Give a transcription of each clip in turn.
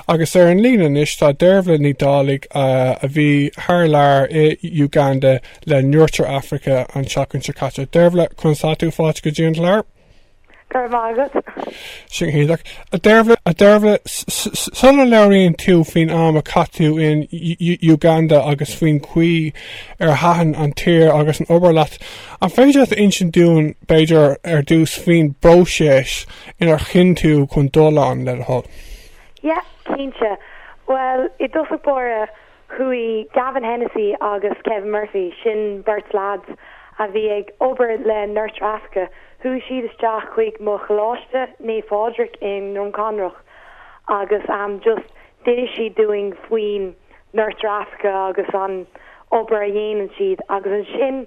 Agus ar an líne anois tá Dearbhla Ní Dhálaigh, a bhí thar lear i Uganda le Nurture Africa an tseachtain seo caite. Dearbhla, conas tá tú fáilte go dtí an chlár? Go raibh maith agat. Sin go hiontach. A Dearbhla, sula labhraíonn tú faoin am a chaith tú in Uganda agus faoin gcaoi ar thaitin an tír agus an obair leat, an féidir leat a insint dúinn, b'fhéidir, ar dtús faoin bpróiseas inar chinn tú chun dul ann, le do thoil? Yeah, cinnte. Bhuel, i dtosach báire, chuaigh Gavin Hennessy agus Kevin Murphy, sin beirt leaids a bhí ag obair le Nurture Africa, chuaigh siad isteach chuig mo Choláiste Naomh Phádraig i nDroim Conrach agus just d'inis siad dúinn faoin Nurture Africa agus an obair a dhéanann siad agus ansin,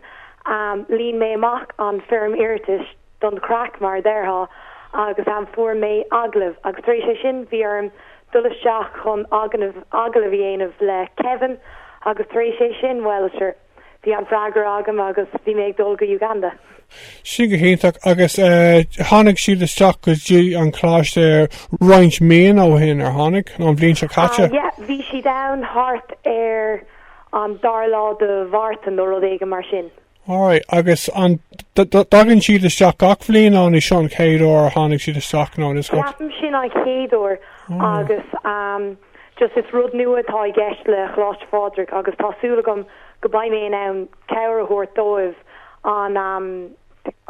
líon mé amach an foirm iarratais. don chraic, mar a déarfá, agus ehm, fuair mé agallamh agus tar éis sin bhí orm dul isteach chun agallamh a dhéanamh le Kevin agus tar éis sin, bhuel, sure, bhí an freagra agam agus bhí mé ag dul go Uganda. Sin go hiontach agus eh, tháinig siad isteach go dtí an choláiste roinnt míonna ó shin ar tháinig an bhliain seo caite? Yeah, bhí siad ann thart ar an dara lá de Mhárta nó rud éigin mar sin. Alright, agus an dtagann siad isteach gach bhliain nó an é seo an chéad uair a tháinig siad isteach nó is gur. Ceapaim sin an chéad uair agus just is rud nua atá i gceist le Coláiste Phádraig agus tá súil agam go beidh mé in ann cabhair a thabhairt dóibh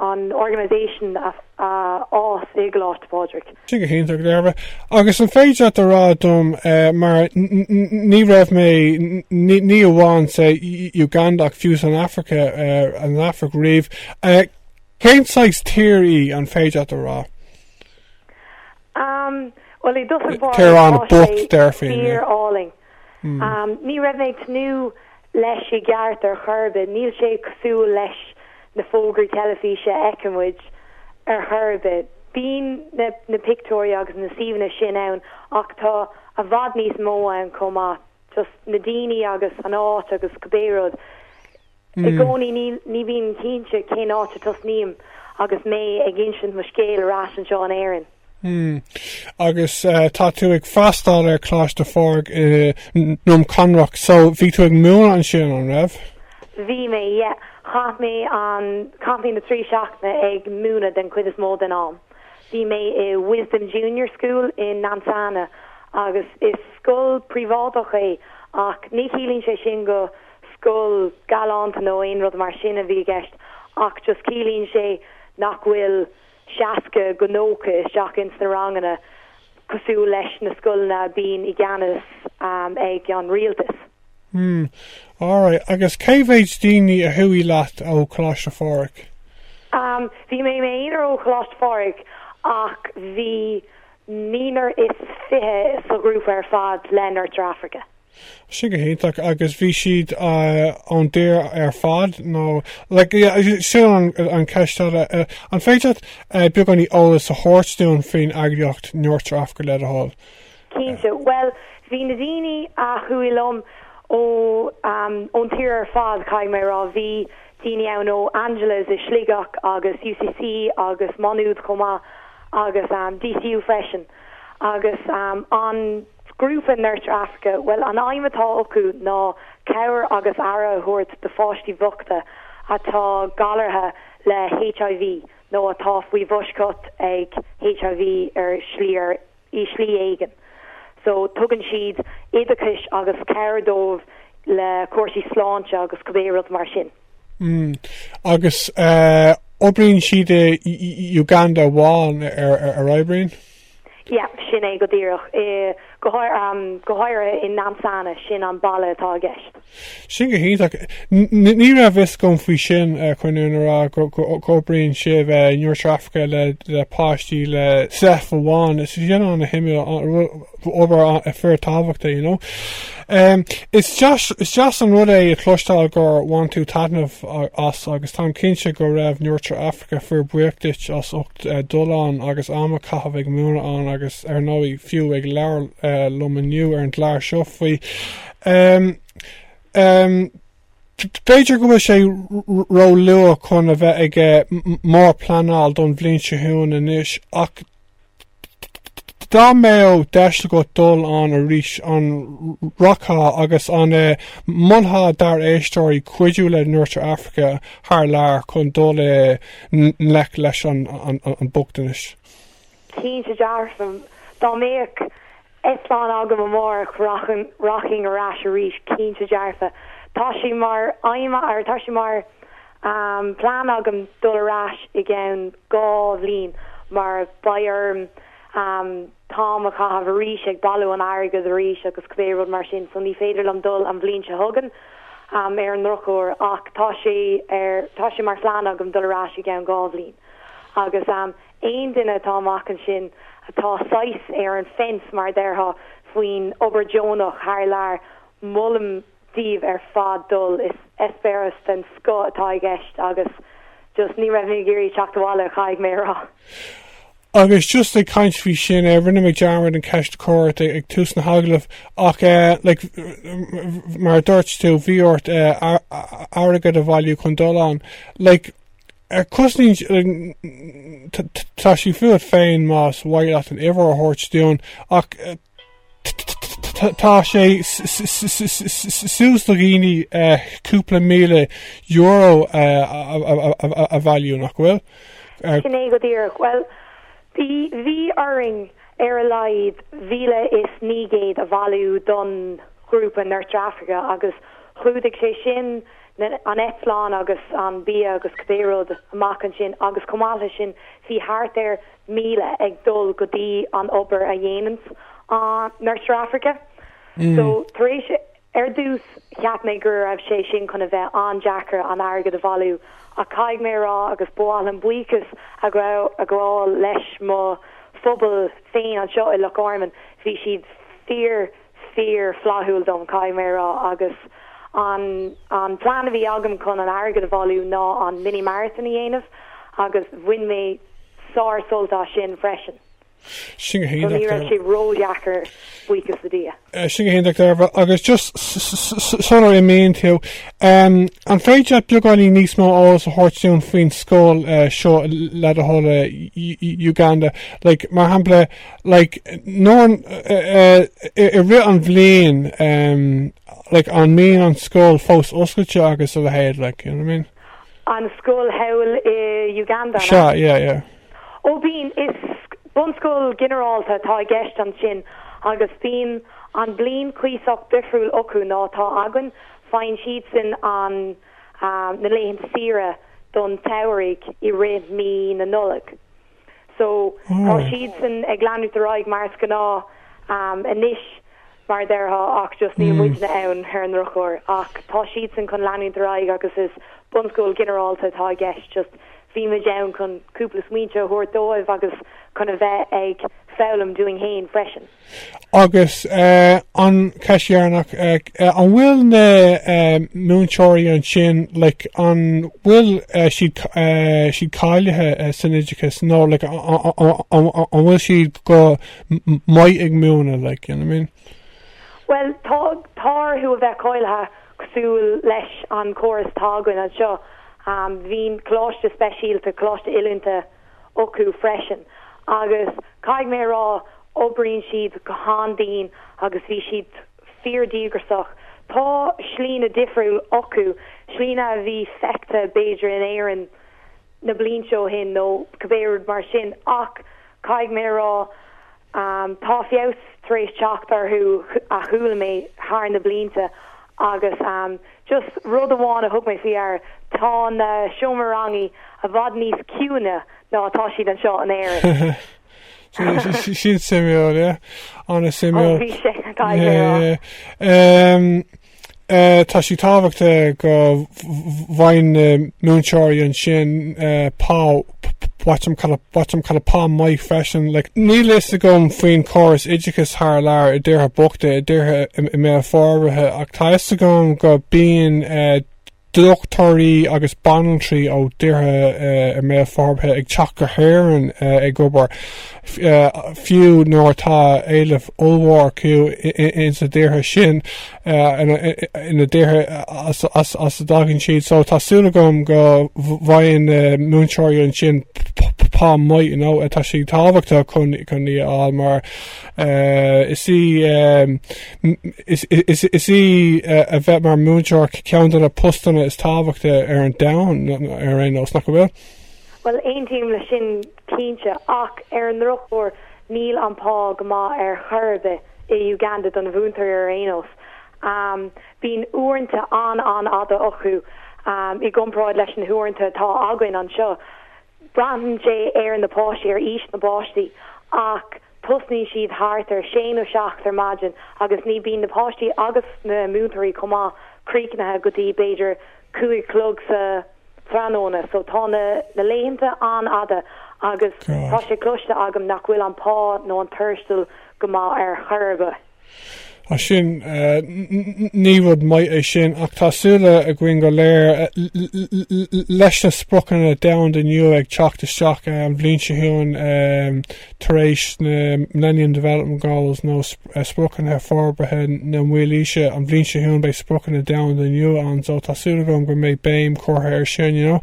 an organisation a fhás i gColáiste Phádraig. Sin go hiontach, Dearbhla. Agus an féidir leat a rá dom, mar ní raibh mé ní amháin sa Uganda ach fiú san Afraice, an Afraic riamh, cén saghas tír í, an féidir leat a rá? Bhuel, i dtosach báire, tír an-bhocht, tír álainn. Ní raibh mé ag tnúth leis i gceart ar chor ar bith, níl sé cosúil leis na fógraí teilifíse a fheiceann muid ar chor ar bith. Bíonn na pictiúirí agus na suíomhanna sin ann ach tá i bhfad níos mó ann chomh maith, just na daoine agus an áit agus cibé rud. I gcónaí ní bhím cinnte cén áit a tosnaím agus mé ag insint mo scéil ar ais anseo in Éirinn. Agus tá tú ag freastáil ar Choláiste Phádraig i nDroim Conrach, so bhí tú ag múineadh ansin, an raibh? Bhí mé, yeah. Chaith mé an, caithim na trí seachtaine ag múineadh den chuid is mó den am. Bhí mé i Wisdom Junior School i Nansana, agus is scoil príobháideach é, ach ní chiallaíonn sé sin go scoil galánta nó aon rud mar sin a bhí i gceist, ach just ciallaíonn sé nach bhfuil 60 go 90 isteach ins na ranganna cosúil leis na scoileanna a bíonn i gceannas ag an rialtas. Hmm. Alright. Agus cé mhéid daoine a chuaigh leat ó Choláiste Phádraig? Um, bhí mé i m'aonar ó Choláiste Phádraig, ach bhí naonúr is fiche sa ghrúpa ar fad le Nurture Africa. Sin go hiontach, agus bhí siad ón dtír ar fad nó, like, yeah, sin an cheist eile. An féidir leat beagáinín eolas a thabhairt dúinn faoin eagraíocht Nurture Africa le do thoil? Cinnte, bhuel, bhí na daoine a chuaigh liom ó, ón tír ar fad, caithfidh mé a rá. Bhí daoine ann ó Angela's i Sligeach agus UCC agus Maynooth chomh maith agus DCU freisin. Agus an grúpa Nurture Africa, bhuel, an aidhm atá acu ná cabhair agus aire a thabhairt do pháistí bhochta atá galraithe le HIV nó atá faoi bhfoisceacht ag HIV ar shlí ar, i, slí éigin. So, tugann siad oideachais agus cabhair dóibh le cúrsaí sláinte agus cibé rud mar sin. Agus oibríonn siad i Uganda amháin ar oibríonn? Yea, sin é go díreach. Go háirithe i Nansana, sin an baile atá i gceist. Sin go hiontach. Ní raibh fhios agam faoi sin, chun an fhírinne a rá go oibríonn sibh i Nurture Africa le páistí le SEIF amháin. Is sin an a thuigim, obair fíor tábhachtach, you know. Is deas an rud é a chloisteáil gur bhain tú taitneamh as agus táim cinnte go raibh Nurture Africa fíor buíoch duit as ucht dul ann agus am a chaitheamh ag múineadh ann agus ar ndóigh fiú ag labhair liom inniu ar an gclár seo faoi. B'fhéidir go bhfuil sé ró luath chun a bheith ag mór pleanáil don bhliain seo chugainn anois ach Dá mbeadh deis agat dul ann arís, an rachfá agus an molfá dár éisteoirí cuidiú le Nurture Africa thar lear chun dul i ngleic leis an mbochtanas? Cinnte dearfa, dá mbeadh. eitleán agam amárach, rachainn ar ais arís, cinnte dearfa. Tá sé mar aidhm, or tá sé mar plean agam dul ar ais i gceann dhá bhliain mar beidh orm t-am a chaitheamh arís ag bailiú an airgead arís agus cibé rud mar sin, so ní féidir liom dul an bhliain seo chugainn ar an drochuair ach tá sé ar, tá sé mar phlean agam dul ar ais i gceann dhá bhliain agus. Aon duine atá amach ansin, atá saghas ar an fence, mar a déarfá, faoin obair deonach thar lear, molaim daoibh ar fad dul, is eispéireas den scoth atá i gceist agus just ní raibh mé ag iarraidh teacht abhaile, caithfidh mé a rá. Agus just ag caint faoi sin, rinne mé dearmad an cheist a chur ort ag tús na hagallaimh ach like mar a dúirt tú, bhí ort airgead a bhailiú chun dul ann, like, Is cosúil tá sé fút féin más maith leat an uimhir a thabhairt dúinn ach tá sé suas do dhaoine cúpla míle euro a bhailiú, nach bhfuil? Sin é go díreach. Bhuel, bhí orainn ar a laghad 1,900 a bhailiú don ghrúpa Nurture Africa agus chlúdaigh sé sin an eitleán agus an bia agus cibé rud amach ansin agus chomh maith leis sin bhí thart ar 1,000 ag dul go dtí an obair a dhéananns an Nurture Africa so tar éis ar dtús cheap mé go raibh sé sin chun a bheith an-deacair an airgead a bhailiú ach caithfidh mé a rá agus ba mhaith liom buíochas a ghabháil le mo phobal féin anseo i Loch Garman bhí siad fíor fíorfhlaithiúil dom, caithfidh mé a rá, agus an an plean a bhí agam chun an airgead a bhailiú ná an mini marathon a dhéanamh agus bhain mé sár sult as sin freisin. Sin go hiontach. Ní raibh sé ródheacair buíochas le Dia. Sin go hiontach ar fad, agus just sular imíonn tú, an féidir leat beagáinín níos mó eolas a thabhairt dúinn faoin scoil seo le do thoil i Uganda? Like, mar shampla, Like, nó, em, eh, i rith an bhliain, em, like, an mbíonn an scoil fós oscailte agus a leithéid, like, you know what I mean? An scoil thall i Uganda, an ea? Sea, yeah, yeah. Ó, bíonn, is bunscoil ginearálta atá i gceist ansin agus bíonn an bliain cuíosach difriúil acu ná atá againn, faigheann siadsan an, ah, na laethanta saoire don tsamhraidh i rith mí na Nollag. So, tá siadsan ag leanúint ar aghaidh mar is gnáth anois, mar a déarfá, ach just níl muidne ann, ar an ndrochuair. Ach tá siadsan chun leanúint ar aghaidh agus is bunscoil ghinearálta atá i gceist, just bhí muid ann chun cúpla smaointe a thabhairt dóibh agus chun a bheith ag foghlaim dúinn fhéin freisin. Agus an cheist dheireanach, an bhfuil na múinteoirí ansin, like, an bhfuil siad, siad cáilithe san oideachas nó, like, an bhfuil siad go maith ag múineadh, like, you know what I mean? Bhuel, tá, tá orthu a bheith cáilithe cosúil leis an chóras atá againn anseo. Bíonn coláiste speisialta, coláiste oiliúnta, acu freisin agus caithfidh mé a rá, obríonn siad go han-dian agus bhí siad fíor-díograsach. Tá slite difriúil acu, slite a bhí feicthe b'fhéidir in Éirinn na blianta ó shin nó cibé rud mar sin ach caithfidh mé a rá tá feabhas tar éis teacht orthu chuala mé thar na blianta agus Just rud amháin a thug mé faoi deara, tá na seomraí ranga i bhfad níos ciúine ná atá siad anseo in Éirinn. Sin suimiúil, yeah. An-suimiúil. Ó, bhí sé caithfidh mé a rá. Tá sé tábhachtach go bhfaigheann na múinteoirí ansin pá. watch them kind of pá maith freisin like níl a fhios agam faoin chóras oideachais thar lear i dtíortha bochta i dtíortha i mbéal forbhartha ach tá a fhios agam go mbíonn eh, dochtúirí agus banaltraí ó dtíortha eh, i mbéal forbhartha ag teacht go hÉirinn eh, ag obair eh, fiú nuair atá éileamh ollmhór orthu i- i- ins na dtíortha sin sna tíortha as a dtagann siad, so tá súil agam go bhfaigheann na múinteoirí ansin pá maith, you know, tá sé tábhachtach chun í a fháil mar is í is í a bheith mar múinteoir ceann de na postanna is tábhachtaí ar an domhan ar aon nós, nach bhfuil? Bhuel, aontaím leis sin. cinnte, ach ar an ndrochuair, níl an pá go maith ar chor ar bith i Uganda don mhúinteoir ar aon nós. Bíonn uaireanta an-an-fhada acu i gcomparáid leis na huaireanta atá againn anseo. Braitheann sé ar na páistí, ar aois na bpáistí, ach Tosnaíonn siad thart ar sé nó seacht ar maidin agus ní bíonn na páistí agus na múinteoirí chomh maith críochnaithe go dtí b'fhéidir cúig a chlog sa trathnóna so tá na laethanta an-fhada agus tá sé cloiste agam nach bhfuil an pá nó an tuarastal go maith ar chor ar bith. Ah sin, ní rud maith é sin, ach tá súil againn go léir, leis na spriocanna domhanda nua ag teacht isteach an bhliain seo chugainn tar éis na Millennium Development Goals nó Spriocanna Forbartha na Mílaoise, an bhliain seo chugainn beidh spriocanna domhanda nua ann so tá súil agam go mbeidh béim curtha ar sin, you know.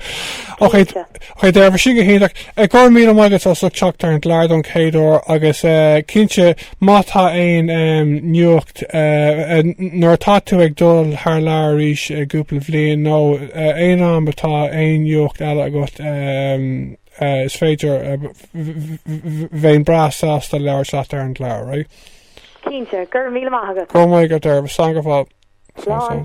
Ok, ok, Dearbhla sin go hiontach. Go raibh míle maith agat as ucht teacht ar an gclár don chéad uair agus cinnte Má tá aon nuacht, nuair atá tú ag dul thar lear arís i gcúpla bhliain, nó aon am atá aon nuacht eile agat, is féidir, bheinn breá sásta labhairt leat ar an gclár, right? Cinnte, go raibh míle maith agat. Go raibh maith agat, Dearbhla, slán go fóill. Slán.